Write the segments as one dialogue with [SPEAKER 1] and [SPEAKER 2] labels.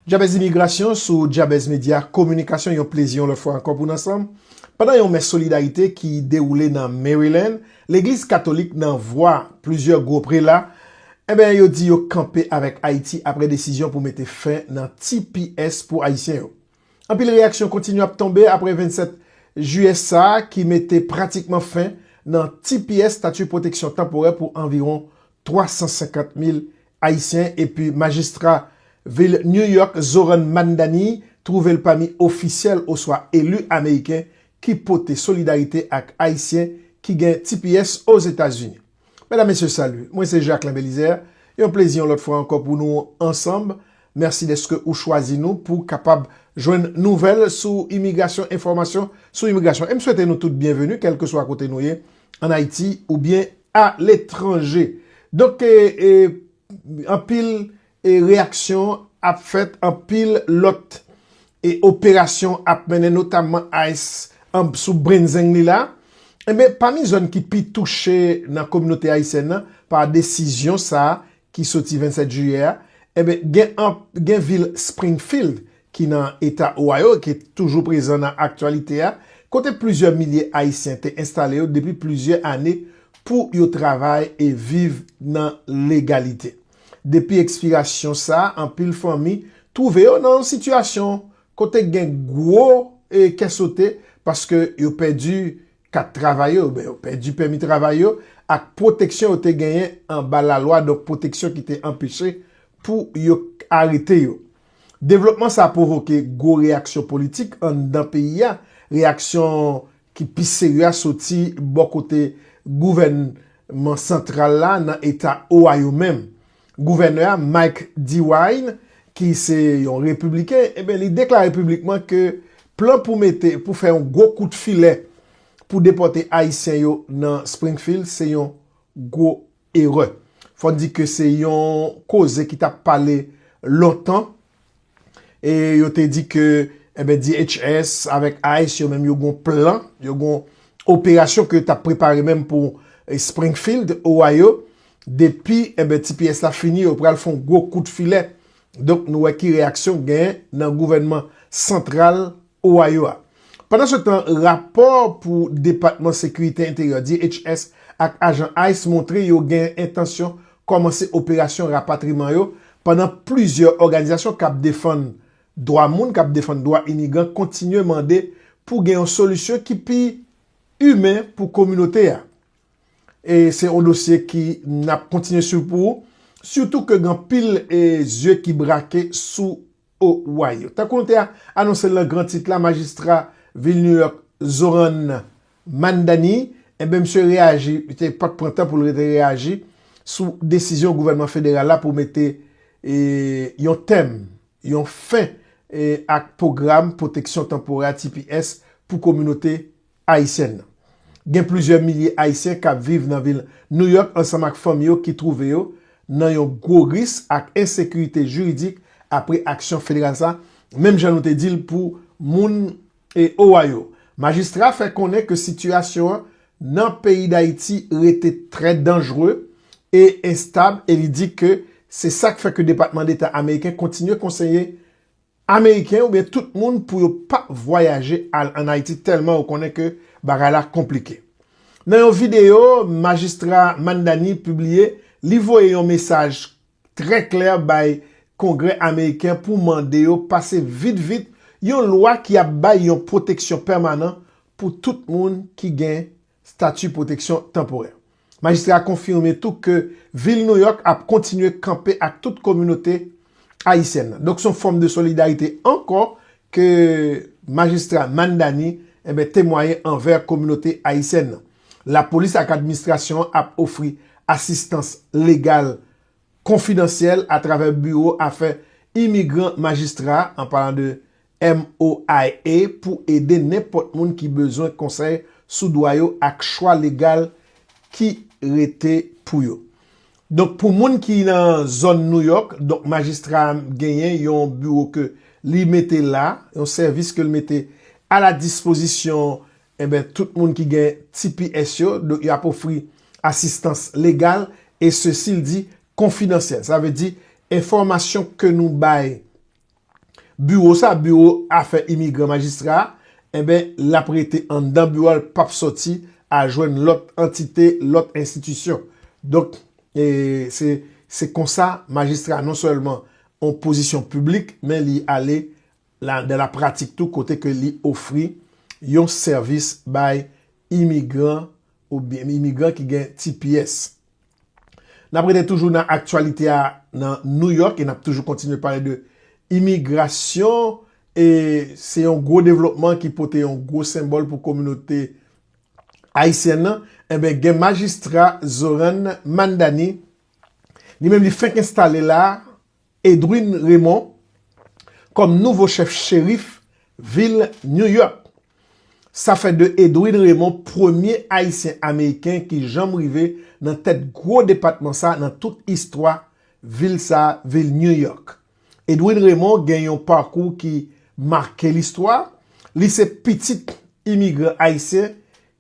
[SPEAKER 1] Djabèz Imigrasyon sou Djabèz Medya Kominikasyon yon plezi yon lòt fwa ankò pou n ansanm pandan yon mès solidarite ki dewoule nan Maryland legliz katolik nan vwa plizyè gwo prela enben yo di yo kanpe avèk Ayiti aprè desizyon pou mete fen nan tps pou Ayisyen yo anpil reyaksyon kontinye ap tonbe aprè 27 jiyè sa ki mete pratikman fen nan tps Statut Pwoteksyon Tanporè pou anviwon 350 mil Ayisyen epi Majistra Vil New York Zohran Mamdani twouve l pami ofisyèl oswa eli Ameriken ki pote solidarite ak Ayisyen ki gen tps Ozetazini. Medam Mesye Salut, mwen se Jacquelin Belizaire, yon plezi yon lòt fwa ankò pou nou ansanm. Mèsi dèske ou chwazi nou pou kapab jwenn nouvèl sou imigrasyon, enfòmasyon sou imigrasyon. E m swete nou tout byenveni kèlkeswa kote nou ye an Ayiti oubyen a letranje. Donk anpil reyaksyon ap fèt, anpil lòt operasyon ap mennen notamman ice anb sou brenzeng li la. Enben pami zòn ki pi touche nan kominote ayisyèn nan pa desizyon sa ki soti 27 jiyè a, enben gen vil Springfield ki nan Eta Ohio e ki toujou prezan nan aktyalite a, kote plizyè milye Ayisyen te enstale yo depi plizyè ane pou yo travay e viv nan legalite. Depi ekspirasyon sa, anpil fanmi twouve yo nan yon sitiyasyon kote gen gwo kè sote paske yo pèdi kat travay yo, yo pèdi pèmi travay yo ak pwoteksyon yo te genyen anba lalwa, donk pwoteksyon ki te anpeche pou yo arete yo. Devlopman sa pwovoke gwo reyaksyon politik anndan peyi a, reyaksyon ki pi serye a soti bò kote gouvènman santral la nan eta Ohio menm. Gouvènè a, Mike DeWine, ki se yon repibliken, enben li deklare piblikman ke plan pou mete, pou fè yon gwo kout filè pou depòte Ayisyen yo nan Springfield se yon gwo Erè. Fò n di ke se yon koze ki t ap pale lontan e yo te di ke enben DHS avèk ice yo menm yo gen yon plan, yo gen yon operasyon ke yo t ap prepare menm pou Springfield, Ohio. Depi enben tps la fini yo pral fè yon gwo kout filè. Donk nou wè ki reyaksyon gen nan gouvènman santral Ohio a. Pandan se tan, rapò pou Depatman Sekirite Enteryè, DHS, ak ajan ice montre yo gen entansyon kòmanse operasyon rapatriman yo pandan plizyè òganizasyon k ap defann dwa moun, k ap defann dwa imigran kontinye mande pou gen yon solisyon ki pi imen pou kominote a. E se yon dosye ki n ap kontinye swiv pou ou, sitou ke gen anpil zye ki brake sou. Ohio. Tankou nou te anonse l nan gran tit la, majistra vil New York Zohran Mamdani, enben misye reyaji, li te pat pran tan pou l rete reyaji sou desizyon gouvènman federal la pou mete yon tèm, yon fen ak pwogram pwoteksyon tanporè, tps, pou kominote Ayisyèn nan. Gen plizyè milye Ayisyen k ap viv nan vil Nouyòk ansanm ak fanmi yo ki twouve yo nan yon gwo ris ak ensekirite jiridik apre aksyon federal sa, menm jan nou te di l pou moun Owayo. Majistra fè konnen ke sitiyasyon an nan peyi Dayiti rete trè danjre e enstab e li di ke se sa k fè ke Depatman Deta Ameriken kontinye konseye Ameriken oubyen tout moun pou yo pa vwayaje al an Ayiti tèlman yo konnen ke bagay la konplike. Nan yon videyo Majistra Mamdani pibliye, li voye yon mesaj trè klè bay Kongrè Ameriken pou mande yo pase vit vit yon lwa ki ap bay yon pwoteksyon pèmanan pou tout moun ki gen stati pwoteksyon tanporè. Majistra a konfime tou ke Vil Nouyòk ap kontinye kanpe ak tout kominote ayisyèn nan. Donk se yon fòm de solidarite ankò ke Majistra Mamdani enben temwaye anvè kominote ayisyèn nan. Lapolis ak administrasyon an ap ofri asistans legal konfidansyèl atravè biwo afè imigran majistra a, an palan de MOIA pou ede nenpòt moun ki bezwen konsèy sou dwa yo ak chwa legal ki rete pou yo. Donk pou moun ki nan zòn New York, donk majistra a genyen yon biwo ke li mete la, yon sèvis ke li mete a la dispozisyon enben tout moun ki gen tps yo, donk y ap ofri asistans legal e sesi l di konfidansyèl. Sa vle di enfòmasyon ke nou bay Biwo sa biwo afè imigran majistra a enben lap rete anndan biwo a l pap sòti al jwenn lòt antite lòt enstitisyon donk se se konsa majistra non sèlman on pozisyon piblik men li ale la dan la pratik tou kote ke li ofri yon sèvis bay imigran oubyen imigran ki gen tps. N ap rete toujou nan aktyalite a nan New York e n ap toujou kontinye pale de imigrasyon e se yon gwo devlopman ki pote yon gwo senbòl pou kominote ayisyèn nan enben gen majistra Zoran Mandani li menm li fenk enstale la Edwin Raymond kòm nouvo chèf cherif vil New York. Sa fè de Edwin Raymond premye Ayisyen Ameriken ki janm rive nan tèt gwo depatman sa nan tout istwa vil sa vil New York. Edwin Raymond gen yon pakou ki make listwa, li se pitit imigran Ayisyen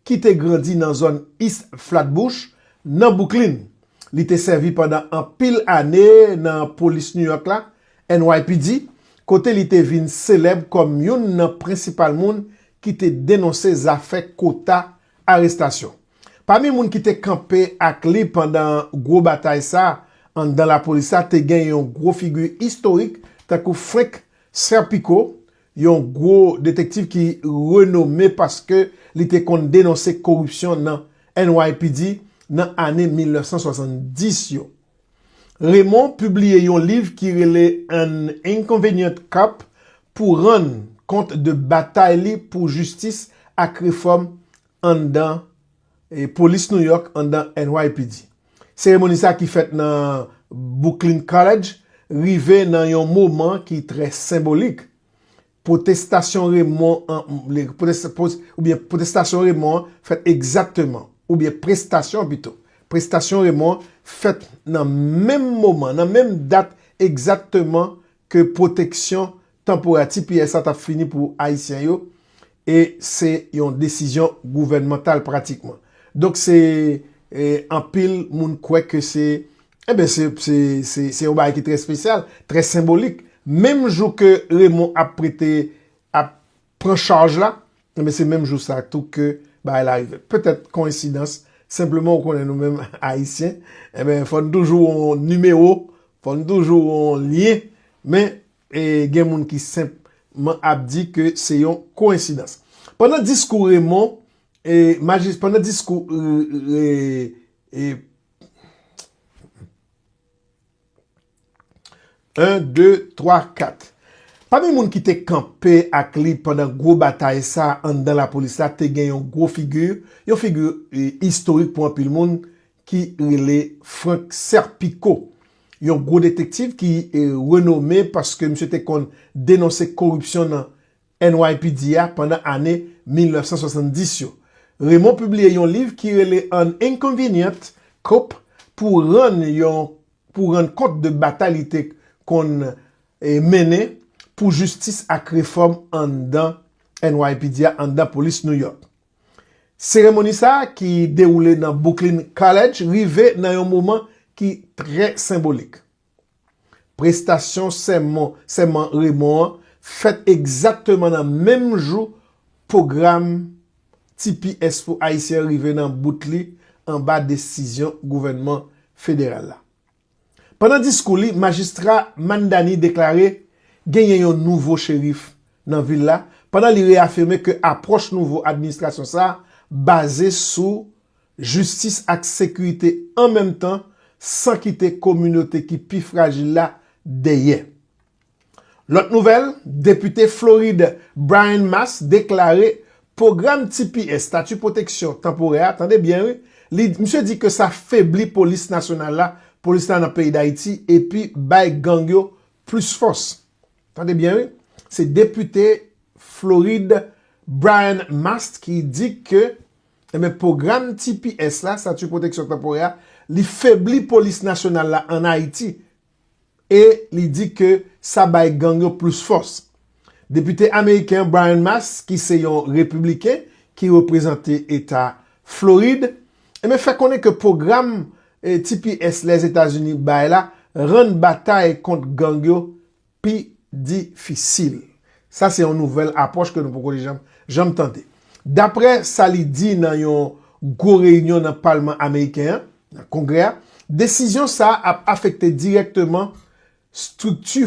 [SPEAKER 1] ki te grandi nan zòn East Flatbush, nan Bouklin. Li te sèvi pandan anpil ane nan Polis New York la, NYPD, kote li te vin selèb kòm youn nan prensipal moun ki te denonse zafè kota arestasyon. Pami moun ki te kanpe ak li pandan gwo batay sa a anndan lapolis la te gen yon gwo figi istorik tankou Frank Serpico, yon gwo detektiv ki renome paske li te konn denonse koripsyon nan NYPD nan ane 1970 yo. Raymond pibliye yon liv ki rele An Inconvenient Cop pou rann kont de batay li pou jistis ak refòm anndan Polis New York anndan NYPD. Seremoni sa ki fèt nan Bouklin College rive nan yon moman ki trè senbolik. Pwotestasyon remon an oubyen pwotestasyon remon an fèt egzakteman oubyen prestasyon an pito, prestasyon remon an fèt nan menm moman, nan menm dat egzakteman ke pwoteksyon Tanpora tps la tap fini pou ayisyen yo e se yon desizyon gouvènmantal pratikman. Donk se anpil moun kwè ke se enben se yon bagay ki trè spesyal, trè senbolik. Menm jou ke Raymond ap prete ap pran chaj la enben se menm jou sa tou ke bagay la rive. Petèt koyensidans, senpleman ou konnen nou menm ayisyen enben fò nou toujou yon nimewo, fò nou toujou yon lyen men. E gen moun ki senp man ap di ke se yon koensidans. Pandan diskou Remon, e majis, pandan diskou re, e, en, de, twa, kat. Pami moun ki te kanpe ak li pandan gwo batay sa anndan lapolis la te gen yon gwo figi, yon figi istorik pou anpil moun, ki rele Frank Serpico, yon gwo detektiv ki renome paske misye te konn denonse koripsyon nan NYPD a pandan ane 1970 yo. Raymond pibliye yon liv ki rele An Inconvenient Cop pou rann yon pou rann kont de batay li te konn mennen pou jistis ak refòm anndan NYPD a, anndan polis New York. Seremoni sa ki dewoule nan Bouklin College rive nan yon moman ki trè senbolik. Prestasyon sèmon sèman Remon an fèt egzakteman nan menm jou pwogram tps pou Ayisyen an rive nan bout li anba desizyon gouvènman federal la. Pandan diskou li, Majistra Mamdani deklare genyen yon nouvo cherif nan vil la pandan li reyafime ke apwòch nouvo administrasyon sa baze sou jistis ak sekirite an menm tan san kite kominote ki pi frajil la dèyè. Lòt nouvèl, Depite Florid Brian Mast deklare pwogram tps, Stati Pwoteksyon Tanporè, a, tande byen wi, li, misye di ke sa febli polis nasyonal la, polis la nan peyi Dayiti epi bay gang yo plis fòs. Tande byen wi, se depite Florid Brian Mast ki di ke, enben, pwogram tps la, Stati Pwoteksyon Tanporè, a, li febli polis nasyonal la an Ayiti, e li di ke sa bay gang yo plis fòs. Depite ameriken Brian Mast ki se yon repibliken ki reprezante eta Florid enben fè konnen ke pwogram tps Lèzetazini bay la rann batay kont gang yo pi difisil. Sa se yon nouvèl apwòch ke nou poko janm tande. Daprè sa li di nan yon gwo reyinyon nan palman ameriken an, Nan Kongrè a, desizyon sa a ap afekte dirèkteman strikti.